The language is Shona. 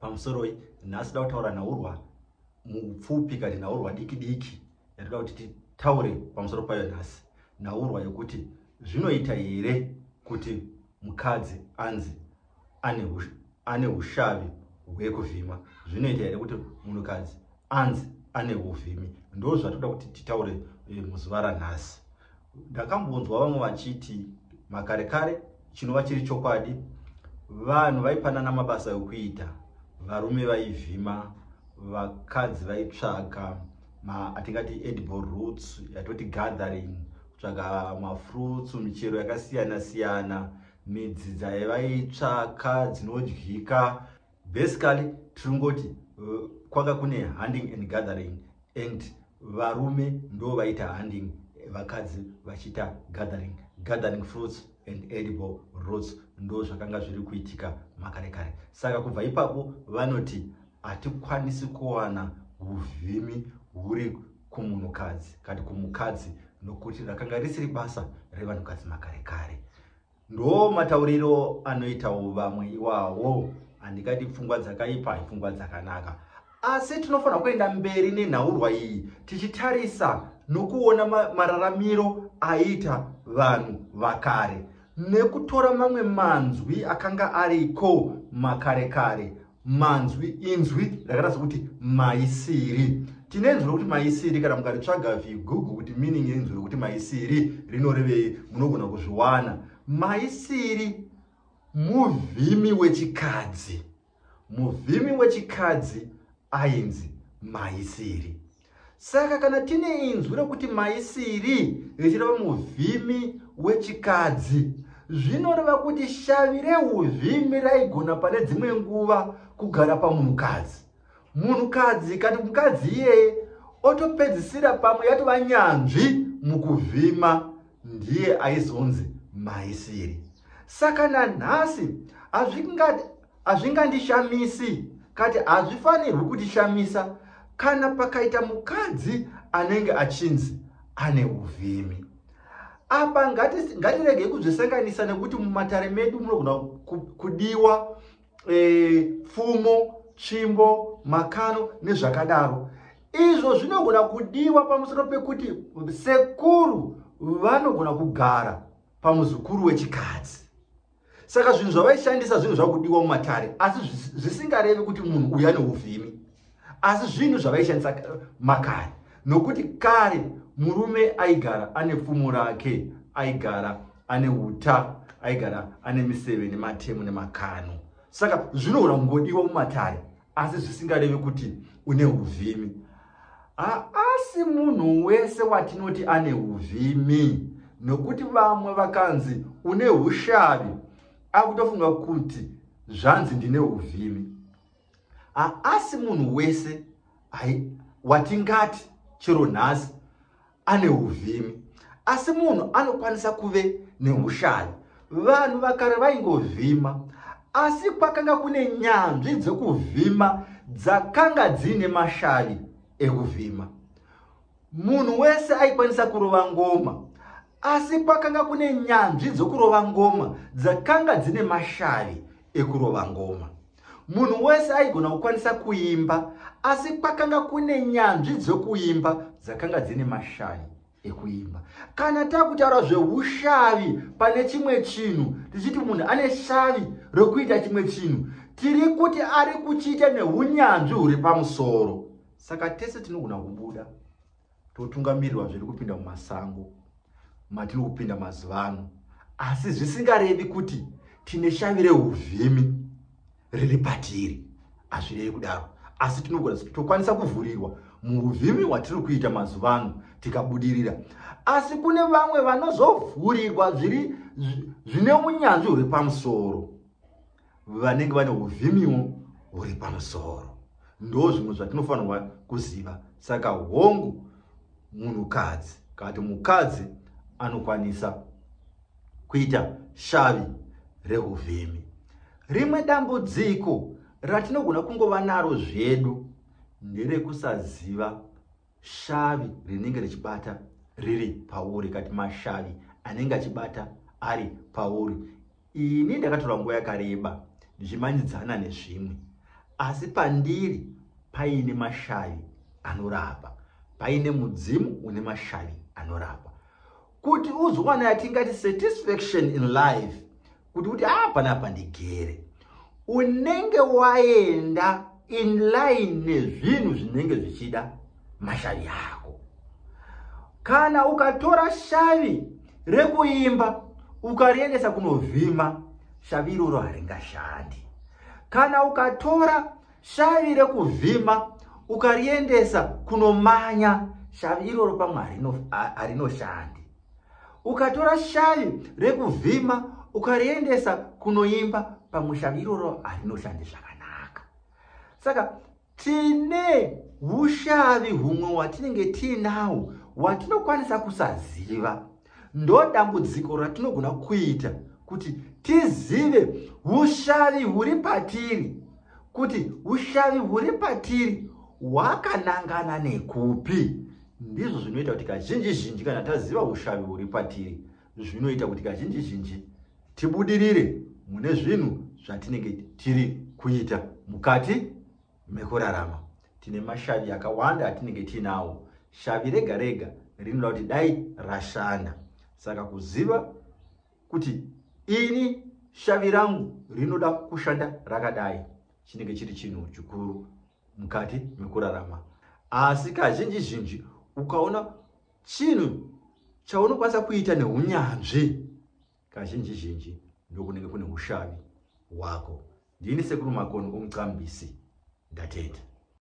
pamusoroi nhasi da kutaura nhaurwa mupfupi kati nhaurwa diki diki yatoda kuti titaure pamusoro payo nhasi nhaurwa yokuti zvinoita here kuti mukadzi anzi ane ushavi hwekuvhima zvinoita here kuti munhukadzi anzi ane uvhimi ndo zvatoda kuti titaure eh, muzuva ranhasi ndakambonzwa vamwe vachiti makare kare chinova chiri chokwadi vanhu vaipanana mabasa ekuita varume vaivhima vakadzi vaitsvaga atingati edible roots yatoti gathering kutsvaga mafruits michero yakasiyana siyana midzi dzaivaitsvaka dzinodyika basically tiringoti uh, kwanga kune handing and gathering and varume ndo vaita handing vakadzi vachiita gathering gathering fruits and edible roots ndo zvakanga zviri kuitika makare kare saka kubva ipapo vanoti hatikwanisi kuwana uvhimi huri kumunhukadzi kati kumukadzi nokuti rakanga risiri basa revanhukadzi makare kare Ndoo matauriro anoitawo vamwe iwawo. Handikati pfungwa dzakaipa ipfungwa dzakanaka. Asi tinofanira kuenda mberi nenhaurwa iyi tichitarisa nokuona mararamiro aiita vanhu vakare nekutora mamwe manzwi akanga ariko makare kare manzwi inzwi rakaratidza kuti maisiri tine inzwi rokuti maisiri kana mukaritsvaga vigugu kuti meaning yeinzwi rokuti maisiri rinorevei munogona kuzviwana maisiri muvhimi wechikadzi muvhimi wechikadzi ainzi maisiri Saka kana tine inzwi rokuti maisiri richireva muvhimi wechikadzi, zvinoreva kuti shavi reuvhimi raigona pane dzimwe nguva kugara pamunhukadzi. Munhukadzi kana mukadzi iyeye otopedzisira pamwe yatova nyanzvi mukuvhima, ndiye aizonzi maisiri. Saka nanhasi Hazvingandishamisi, kati hazvifanirwi kutishamisa kana pakaita mukadzi anenge achinzi ane uvhimi. Apa ngatiregei kuzvisanganisa nekuti mumatare medu munogona kudiwa e, pfumo, tsvimbo, makano nezvakadaro. Izvo zvinogona kudiwa pamusoro pekuti sekuru vanogona kugara pamuzukuru wechikadzi. saka zvinhu zvavaishandisa zvinhu zvakudiwa mumatare asi zvisingarevi kuti munhu uya neuvhimi asi zvinhu zvavaishandisa makare nokuti kare murume aigara ane pfumo rake aigara ane uta aigara ane miseve nematemo nemakano saka zvinohura ngodiwa mumatare asi zvisingarevi kuti une uvhimi haasi munhu wese watinoti ane uvhimi nokuti vamwe vakanzi une ushavi akutofunga kuti zvanzi ndine uvhimi haasi munhu wese watingati chero nhasi ane uvhimi asi munhu anokwanisa kuve neushayi vanhu vakare vaingovhima asi kwakanga kune nyanzvi dzekuvhima dzakanga dziine mashavi ekuvhima munhu wese aikwanisa kurova ngoma asi kwakanga kune nyanzvi dzokurova ngoma dzakanga dzine mashavi ekurova ngoma munhu wese aigona kukwanisa kuimba asi kwakanga kune nyanzvi dzokuimba dzakanga dzine mashavi ekuimba kana takutaura zveushavi pane chimwe chinhu tichiti munhu ane shavi rokuita chimwe chinhu tiri kuti ari kuchiita neunyanzvi huri pamusoro saka tese tinogona kubuda totungamirirwa zviri kupinda mumasango matiri kupinda mazuva ano asi zvisingarevi kuti tine shavi reuvhimi riri patiri hazvirevi kudaro asi tinogona tokwanisa kuvhurirwa muuvhimi hwatiri kuita mazuva ano tikabudirira asi kune vamwe vanozovhurirwa zviri zvine unyanzvi huri pamusoro vanenge vane uvhimiwo huri pamusoro ndo zvimwe zvatinofanirwa kuziva saka hongu munhukadzi kana kuti mukadzi anokwanisa kuita shavi reuvhimi rimwe dambudziko ratinogona kungova naro zvedu nderekusaziva shavi rinenge richibata riri pauri kati mashavi anenge achibata ari pauri ini ndakatora nguva yakareba ndichimanyidzana nezvimwe asi pandiri paine mashavi anorapa paine mudzimu une mashavi anorapa kuti uzowana yatingati satisfaction in life kuti kuti haa panapa ndigere unenge waenda in line nezvinhu zvinenge zvichida mashavi ako kana ukatora shavi rekuimba ukariendesa kunovhima shavi iroro haringashandi kana ukatora shavi rekuvhima ukariendesa kunomanya shavi iroro pamwe harinoshandi ukatora shavi rekuvhima ukariendesa kunoimba pamushavi iroro harinoshandi zvakanaka saka tine ushavi humwe watinenge tiinawo watinokwanisa kusaziva ndo dambudziko ratinogona kuita kuti tizive ushavi huri patiri kuti ushavi huri patiri hwakanangana nekupi Ndizvo zvinoita kuti kazhinji zhinji kana taziva ushavi huri patiri, zvinoita kuti kazhinji zhinji tibudirire mune zvinhu zvatinenge tiri kuita mukati mekurarama. Tine mashavi akawanda atinenge tiinawo. Shavi rega rega rinoda kuti dai rashanda. Saka kuziva kuti ini shavi rangu rinoda kushanda rakadai chinenge chiri chinhu chikuru mukati mekurarama asi kazhinji zhinji ukaona chinhu chaunokwanisa kuita neunyanzvi kazhinji zhinji ndokunenge kune ushavi hwako ndini sekuru makoni omucambisi ndatenda